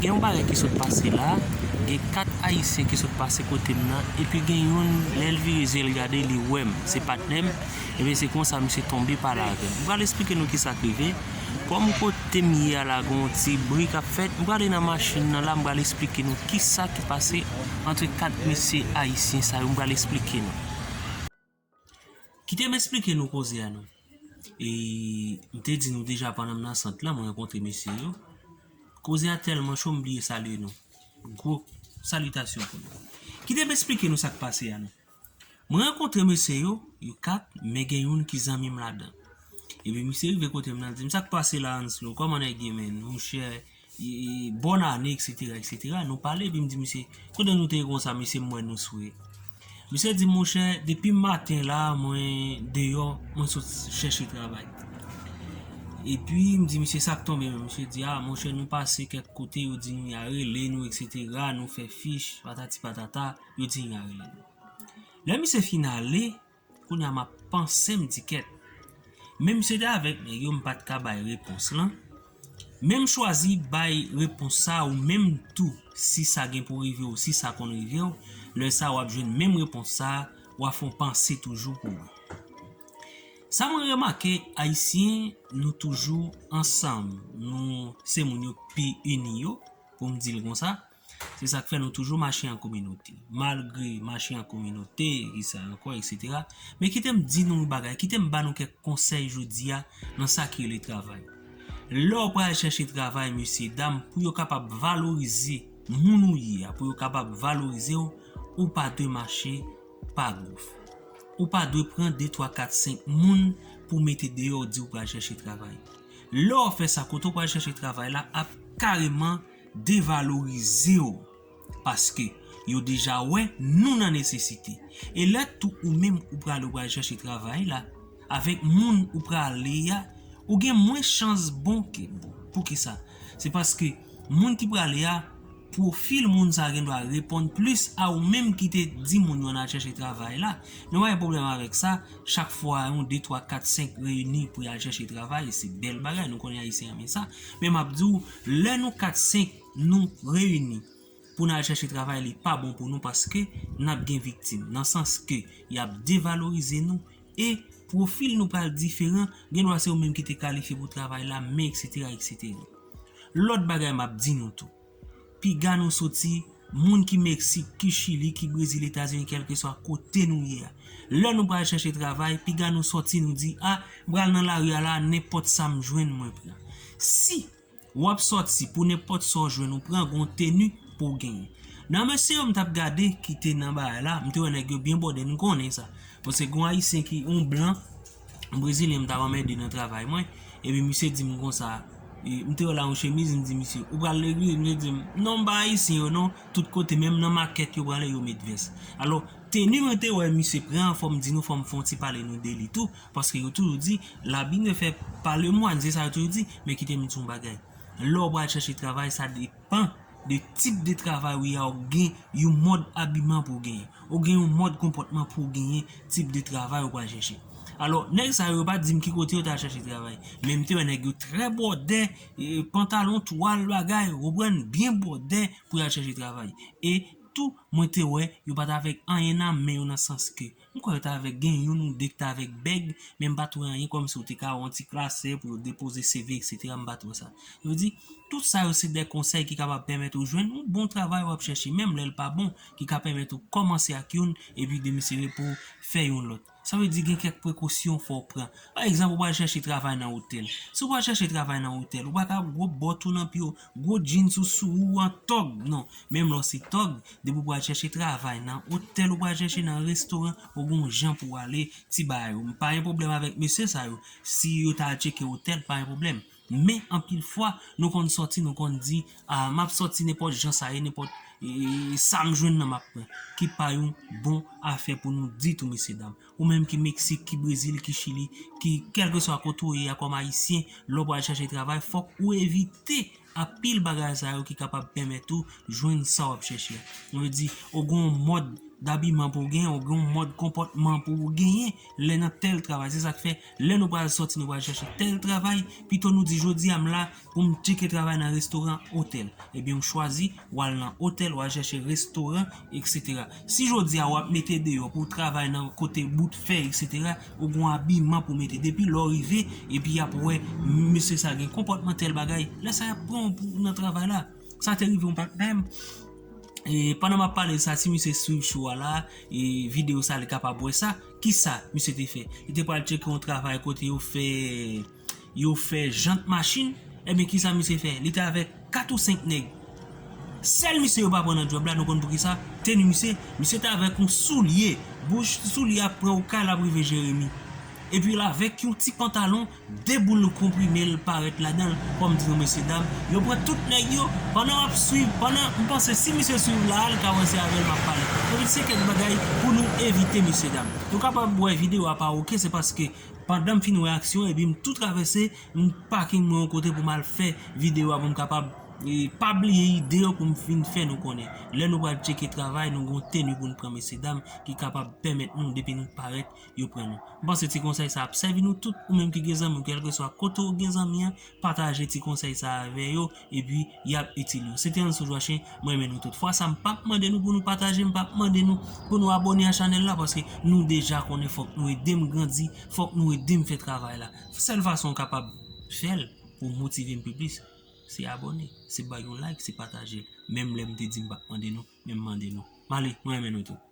Gen yon bagay ki sot pase la, gen 4 ayisyen ki sot pase kote m nan, epi gen youn lè l vire zye l gade li wè m, se patnè m, ebyen se konsa misye tonbe pale avè m. M pral esplike nou kisa k rive, kòm kote m ye a la gen yon ti bri k ap fèt, m prale nan machin nan la m pral esplike nou kisa ki pase antre 4 mesye ayisyen sa yo, m pral esplike nou. Kite m esplike nou koze a non. E m te di nou deja pandan m nan sant lan m rankontre mesye yo. Koze a tèlman cho m bliye salye nou. Gwo salitasyon pou nou. Kite m esplike nou sa k pase a non. M rankontre mesye yo, yo 4 men gen youn ki zanmi m ladan. Epi misye rive kote m nan l di m sa k pase la Anslo, kòman nèg ye menn? Monchè! Bòn ane etc etc nou pale epi m di misye kote nou te ye konsa mesye m wè nou swe misye di monchè depi maten la mwen deyò mwen sot chèche travay epi m di misye sak tonbe menm misye di a monchè nou pase kèk kote yo di nou ya rele nou etc nou fè fich patati patata yo di nou ya rele nou lè misye fin ale Kounya map panse m di kèt. Menm si yo te avèk nèg yo m pat ka bay repons lan. Menm chwazi bay repons sa ou menm tou si sa gen pou rive w si sa konn rive w lè sa wap jwenn menm repons sa wa fon panse toujou pou ou. Sa mwen remake ayisyen nou toujou ansanm nou se moun yo pi ini yo pou m di l konsa. Se sa k fè nou toujou mache an kominote. Malgre mache an kominote, ki sa ankò, eksetera, men kite m di nou yon bagay, kite m ba nou kèk konsèy jodi a nan sa ki rele travay. Lè w pral chèche travay, mesyedam, pou yo kapab valorize moun ou ye a, pou yo kapab valorize w, ou pa dwe mache pa gouf. Ou pa dwe pran de, twa, kat, senk moun pou w mete deyò w di w pral chèche travay. Lè w fè sa, kote w pral chèche travay la ap kareman. devalorize w paske yo deja wè nou nan nesesite e lè tou ou menm ou prale ou pral chèche travay la avèk moun ou prale a ou gen mwens chans bon ke bon poukisa se paske moun ki prale a pwofil moun sa gendwa reponn plis a ou menm ki te di moun yo nan chèche travay la nou pa gen pwoblèm avèk sa chak fwa yon de twa kat senk reyini pou yal chèche travay se bèl bagay nou konnen ayisyen renmen sa men map di w. Lè nou 4, 5 nou reyini pou n al chache travay li pa bon pou nou paske n ap gen viktim nan sans ke y ap devalorize nou e pwofil nou pral diferan gen dwa se ou menm ki te kalifye pou travay la men eksetera eksetera. Lòt bagay m ap di nou tou piga nou soti Moun ki Meksik, ki Chili, ki Brezil, Etazini kèlkeswa kote nou ye a. Lè nou pral chache travay, piga nou sòti nou di a, m pral nan lari a la a nenpòt sa m jwenn mwen pran. Si W ap sòti pou nenpòt sa w jwenn ou pran gon teni pou w genyen. Nan mesye yo m t ap gade ki te nan bagay la, m te wè nèg yo byen bòde, m konnen sa. Paske gon Ayisyen ki, on blan Brezilyen m t ap anmède nan travay mwen, epi misye di m konsa, m te wè l ak yon chemiz, m di misye, ou pral legliz? Misye di m, non m pa ayisyen yo non, tout kote menm nan makèt yo prale yo met vès. Alò, teni mwen te wè misye pran an fò m di nou fò m fè yon ti pale nou de li tou, paske yo toujou di, l'habit ne fait pas le moine, se sa yo toujou di, men kite m di w yon bagay, lè w pral chèche travay sa depan. De tip de travay ou ya ou gen yon mòd abiman pou genyen. Ou gen yon mòd konpòtman pou genyen tip de travay ou pral chèche. Alò, nèg sa yo pa dim ki kote yo ta chèche travay. Men m te wè nèg yo trè bòdè, pantalon twal bagay, ou konprann, byen bòdè pou y al chèche travay. E tou, mwen te wè yo pa t avèk anyen nan men yo nan sans ke M kwè yo t avèg, gen youn ou de ki t avèg bèg, men m pa t wè anyen kòmsi ou te ka wè yon ti klasè pou yo depoze CV eksetera m pa t wè sa. Yo di, Tout sa yo se de konsèy ki kapab pèmèt ou jwenn yon bon travay w ap chèche menm lè l pa bon ki ka pèmèt ou kòmanse ak youn epi demisyone pou w fè yon lòt. Sa vle di gen kèk prekosyon fò w pran. Pa egzanp ou pral chèche travay nan otèl. Si w pral chèche travay nan otèl, ou pa ka ap gwo bòt ou nan pye w Gwo jeans ou sou ou an tòg non menm lè w se tòg depi w pral chèche travay nan otèl ou pral chèche nan restoran ou gon jan pou w ale ti bagay ou m pa gen pwoblèm avèk mesye sa yo si yo ta al tcheke otèl m pa gen pwoblèm men anpil fwa nou konn sòti nou konn di a m ap sòti nenpòt jan sa ye nenpòt sa m jwenn nan m ap pran ki pa yon bon afè pou nou ditou mesye dam. Ou menm ki Meksik, ki Brezil, ki Chili, ki kèlkeswa kote ou ye a kòm Ayisyen, lè w pral chache travay fòk ou evite anpil bagay sa yo ki kapab pèmèt ou jwenn sa w ap chèche a. Mwen vle di, ou gen yon mòd dabiman pou w genyen, ou gen yon mòd konpòtman pou w genyen lè nan tèl travay. Se sa k fè lè nou pral sòti nou pral chache tèl travay, pito nou di jodi a m la, Ou m tcheke travay nan restoran, otèl. Ebyen ou chwazi, ou al nan otèl, ou al chèche restoran, eksetera. Si jodi a ou ap mete deyò pou w travay nan kote bout fè, eksetera, ou gon abiman pou w mete. Depi lè w rive, epi y ap wè mesye sa gen konpòtman tèl bagay, lè sa y ap pran w pou nan travay la. Sa te rive yon patnè m, e pandan m ap pale sa, si misye swiv chou a la, e videyo sa li kapab wè sa, kisa misye te fè? Li te pral tcheke yon travay kote yo fè. Yo fè jant machin, ebyen kisa misye fè? Li te avèk 4 ou 5 nèg. Sèl misye yo pa pran nan djòb la, nou konn poukisa? Teni misye, misye te avèk yon soulye, bouch ti soulye a pran okay l ap rive jeremi. Epi l avèk yon ti pantalon, 2 boul konprime l parèt ladan l, kòm di nou mesye dam, yo pran tout nèg yo, pandan m ap swiv, pandan, m panse si misye swiv la a, l ka wè se avè l m ap pale. Ebyen se kèk bagay pou nou evite mesye dam. Nou kapab wè videyo a pa ok, se paske Pandanm fin wè aksyon epi m tou travèse m parking mwen yon kote pou mal fè video a pou m kapab pa bliye ide yo pou m vin fè nou konnen lè nou pral tcheke travay nou gon teni pou nou pran mesye dam ki kapab pèmèt nou depi nou parèt yo pran nou. M panse ti konsèy sa ap sèvi nou tout ou menm ki gen zanmi ou kelkeswa kote ou gen zanmi an pataje ti konsèy sa avè yo epi yap itil yo se te Ansou Joachim m renmen nou tout fwa sa m pap mande nou pou nou pataje m pap mande nou pou nou abòne a chanèl la paske nou deja konnen fòk nou edem grandi fòk nou edem fè travay la sèl fason ou kapab fèl pou motive m pi plis se abòne se bay yon like se pataje menm lè m te di m pap mande nou men m mande nou m ale m renmen nou tout.